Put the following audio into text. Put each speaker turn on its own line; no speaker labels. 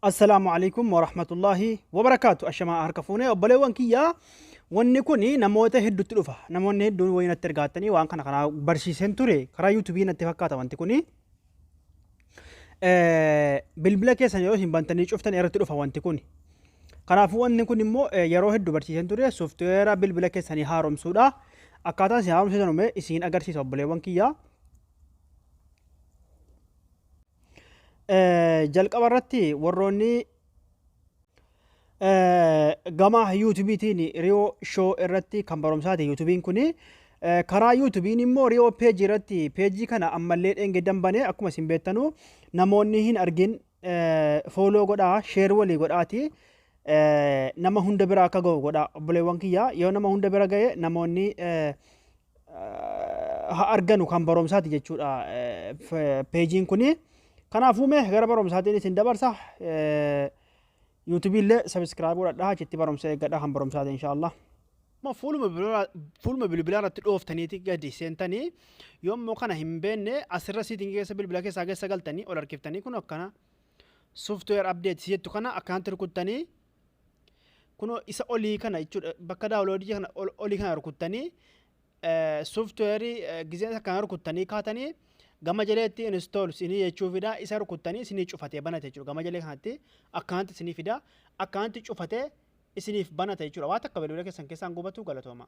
Assalaamu alaikum warahmatullahi wabarakaatu ashamaa harka fuunee obboleewwan kiyyaa wanni kun namoota hedduutti dhufa namoonni hedduun wayii natti ergaattanii waan kana kanaa barsiiseen ture karaa yuutuubii natti fakkaata wanti kun bilbila keessan yeroo isin bantanii cuftan irratti dhufa wanti kun kanaafuu wanni kun immoo yeroo hedduu barsiiseen ture sooftiweera bilbila keessanii haaromsuudha akkaataa isin haaromsitan ume isin agarsiisa obboleewwan kiyyaa Jalqaba irratti warroonni gama yuutubiitiin riyoo shoo irratti kan barumsaati yuutubiin kun karaa yuutubiin immoo riyoo peejii irratti peejii kana ammallee dheengaddan banee akkuma isin beektanu namoonni hin argin fooloo godhaa sheer walii godhaati nama hunda bira akka ga'u godhaa obboleewwan kiyyaa yoo nama hunda bira ga'e namoonni ha arganu kan baromsaati jechuudha peejiin kuni. Kanaafuu mee gara baromsaatiin isin dabarsa. Yuutubii illee sabiskiraayib godhadhaa achitti baromsa eeggadhaa kan baromsaati inshaallah. Amma fuuluma bilbilaa fuuluma bilbilaa irratti dhooftaniiti gadi seentanii yommuu kana hin beekne asirra siitiin keessa bilbila keessaa keessa galtanii ol harkiftanii kun akkana software update jettu kana akkanatti rukuttanii Kunoo isa olii kana jechuudha. Bakka daawuloodii kana olii kana rukuttanii sooftiweerii gizeen isa kana rukuttanii kaatanii gama jaleetti install sinii jechuu fida isa rukuttanii sinii cufatee banate jechuudha. Gama jalee kanatti akkanatti sinii fida akkanatti cufatee isiniif banata jechuudha. Waa takka bilbila keessan keessaan gubatu galatooma.